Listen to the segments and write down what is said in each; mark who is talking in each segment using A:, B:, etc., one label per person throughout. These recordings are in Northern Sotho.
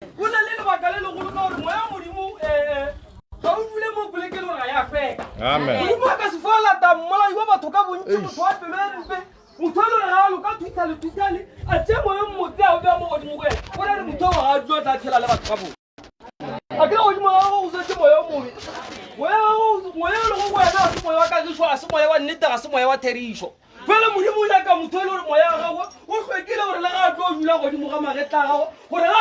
A: Go na le lebaka le legolo ka gore moya modimo ga o dule mo polekeng gore ga ya feka. Modimo a ka se fo lata mmolai wa batho ka bontsi motho wa pelo e mpe motho e lore ga a loka thusa le thusane a tse moyo mmote a o bea mo godimo go ena o na le motho wa ga a dula tla tshela le batho ka bone a ke godimo ga gago go setse moya o mobe moya e lego go wena ga se moya wa kagišo ga se moya wa nnete ga se moya wa therišo Jwale Modimo o nyaka motho e le gore moya wa gagwe o hlwekile gore le ga a tlo dula godimo ga magetla a gagwe gore ga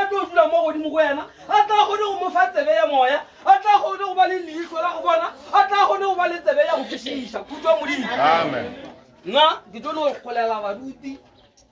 A: a tlo dula mo godimo go yena a tla kgone go mo fa tsebe ya moya a tla kgone go ba le leitlho la go bona a tla kgone go ba le tsebe ya go kwešiša khutšwa modimo nna ke tlo no golela baruti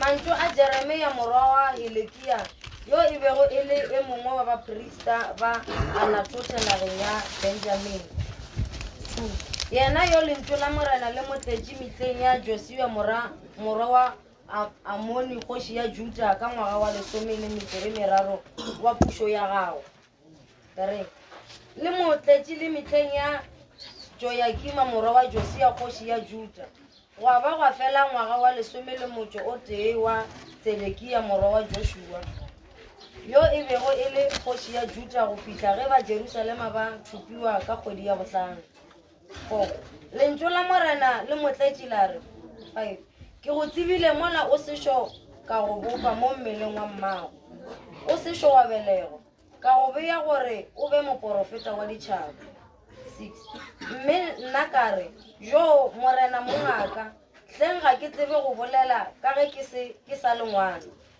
B: Mantšu a Jeremia morwa wa Hilekia, yo e bego e le e mongwe wa baprista ba Anatothe nageng ya Benjamini, Thu, yena yo lentšu la Morena le mo tletše mitleng ya Josia morwa, morwa wa Amoni kgoši ya Juda ka ngwaga wa lesome le metšo e meraro wa pušo ya gagwe. Le mo tletše le mehleng ya Joyakima morwa wa Josia kgoši ya Juda, gwa ba gwa fela ngwaga wa lesome le motšo o tee wa Tsedekia morwa wa Joshua, yo e bego e le kgoši ya Juda go fihla ge ba Jerusalema ba thupiwa ka kgwedi ya bohlano. Four, Lentšu la Morena le mo tletše la re, Five, Ke go tsebile mola o sešo ka go bopa mo mmeleng wa mmago, o sešo wa belegwa, ka go bea gore o be moporofeta wa ditšhaba. Six, Mme nna ka re, Joo, Morena mongaka, hleng ga ke tsebe go bolela ka ge ke se ke sa le ngwana.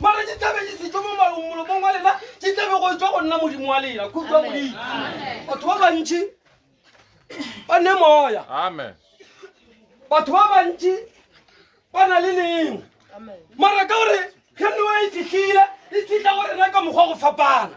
A: Mara di tlabe di setšo mo malong molomong wa lena, di tlabe go etšwa go nna Modimo wa lena. Kutlwa Modimo. Batho ba bantši ba ne moya. Amen. Batho ba bantši ba na le neng. Mara ka gore ge newa e fihlile, e fihla go rena ka mokgwa go fapana.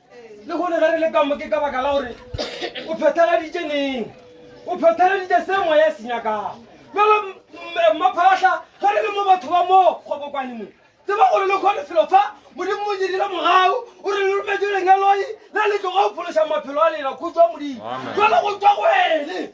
A: le gone ge re le kamo ke ka baka la gore o phethagaditše neng o phethagaditše se moya e se nyakago jalo mmaphatlha ge re le mo batho ba mo kgobokwane mo tseba gore le kgone felo fa modimo mo dirile mogau o re le rometse lenyaloi le le tloga o phološa maphelo a lela khutswa modimo jalo go tswa go ene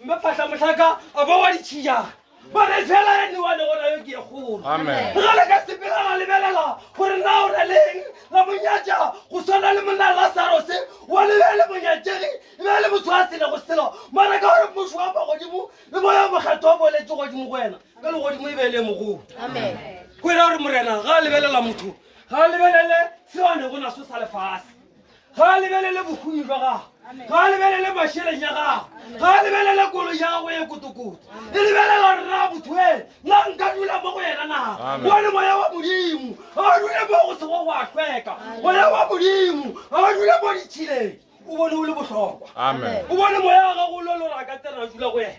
A: Mme phahla mohlaka a bo wa ditšhijana ba re fela ya newa le gona yo ke ye kgolo Amen. re gale ka sepela ra lebelela gore na o na leng la monyatša go swana le monna lasarose wa lebe le monyatšegi e be le motho a sele go selo mara ka gore mmušo wa magodimo le moya mokgetho wa boletse godimo go wena ka legodimo e be le mogolo go ira gore morena ga a lebelela motho ga a lebelele seo a ne go naso sa lefase Ga a lebelele bohumi bja gagwe. Ga a lebelele mašeleng a gagwe. Ga a lebelele kolo ya gagwe e kotokoto. E lebelela rra botho ene. Na nka dula mo go yena na? Bone moya wa Modimo. A o dule mo go sego go a hlweka. Moya wa Modimo. A o dule mo ditšhileng. O bone o le bohlokwa. O bone moya wa gago o lolora ka tsena a dula go yena.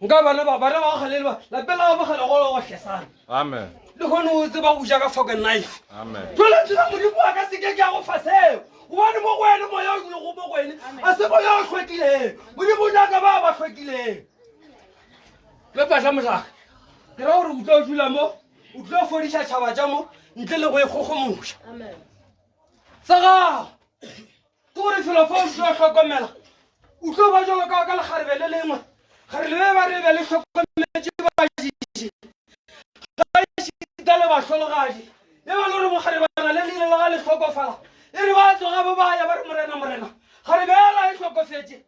A: nka bana ba bana ba go galele ba lapeng la gabo gale golo gohle sana amen le gone o tseba go ja ka foke knife amen jole tsela modimo wa ka seke ke ya go fa seo gobane mo go wene moya o dule go mo go wene a se moya o tlhwekileng modimo o nyaka ba ba tlhwekileng le patla motlaka ke ra gore o tlo dula mo o tlo fodiša tšhaba tša mo ntle le go e kgogomoša sa gago Ke gore felo fa o tlo hlokomela o tlo ba jalo ka ka lekgarebe le lengwe gore le be ba re be le hlokometše bašiši ga šita le bahlologadi le ba le gore mokgarebana le lile le ga le hlokofala e re ba tloga bo ba ya ba re morena morena kgarebe ela e hlokofetše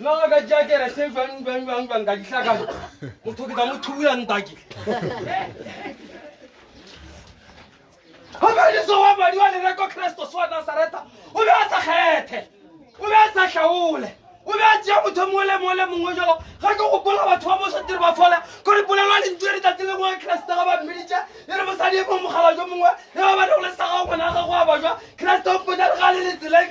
A: na o ka tšea kerese jwang jwang jwang jwang ka dihlakana motho ke tla mo thubola ntake gabadiso wa madi wa lereko kristos wa nasareta o be a sa kgethe o be a sa hlaole o be a tšea motho mongwe le mongwe le mongwe jalo ga ke gopola batho ba mosotiri ba fola ko re polelwa lentso re tate le ngwe keresete ga ba mmeditše e re mosadi e mongwe mogala jo mongwe e ba bane go le saga ngwana ga go a bajwa keresete o mpotsa re ga le letseleng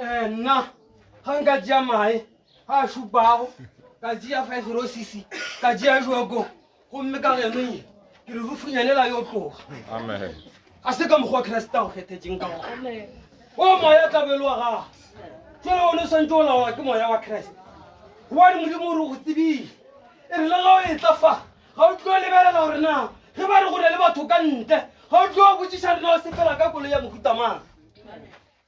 A: Eh, nna ga nka tšea mae a a šupago ka tšea five rosisi ka tšea joko gomme ka genong ke re rufunyanela yo tloga ga se ka mokgwa kreste a go kgethetseng ka gona o moya tlabelo wa gago jale one o swantse o laola ke moya wa kreste gobane modimo o re go tsebile e re le ga o e tla fa ga o tlo lebelela gore na ge ba re go na le batho ka ntle ga o tlo botsiša rena o sepela ka kolo ya mohutamang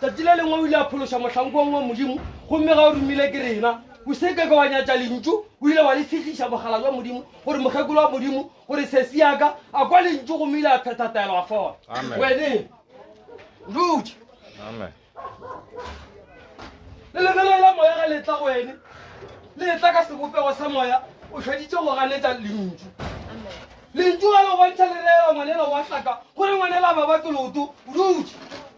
A: Tšatši le lengwe o ile a phološa mohlankuwang wa Modimo, gomme ga o romile ke rena. O se ke ka wa nyatša Lentšu, o ile wa le segiša Bogala bja Modimo, gore mokgekolo wa Modimo, gore sesi ya ka, a kwa Lentšu gomme ile a phetha taelo, a fola. Wene, ndutše. Amen. Le lebelo la moya ga le tla go wene, le tla ka sebopego sa moya, o šeditše go ganetša Lentšu. Lentšu ga le go bontšha le reela ngwanela wa hlaka, gore ngwanela ba ba ke loto, o dutše.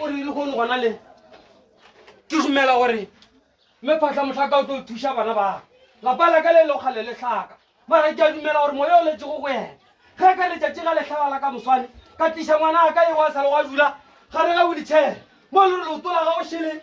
A: o re lehono gona le ke dumela gore mme phatla motlhaka o tlo thuša bana ba lapa la ka le lego kgale le tlhaka mara ke a dumela gore moya o letsego go ena ge ka letšatši ga letlhaba la ka moswane ka tliša ngwana a ka e wa sa le wa dula gare ga wheelchair mo le re leoto la gago šele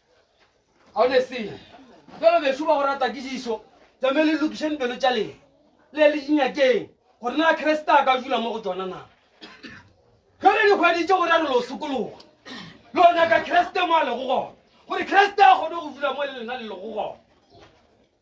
A: ga o ne selo bjalo bešu ba go rata ke diso tšame le lokišeng pelo tša lena le le dinyakeng gore na kreste a ka dula mo go tsona na jale dikgwedi tše go ra re lo sokologa lo nyaka kreste mo a lego gona gore kreste a kgone go dula mo le lena le lego gona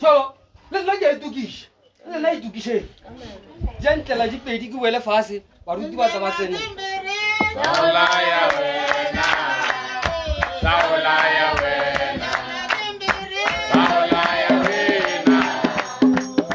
A: so le lena ke a itokiša le lena itokiseng ja ntlela dipedi ke boele fase baruti ba tla ba tsene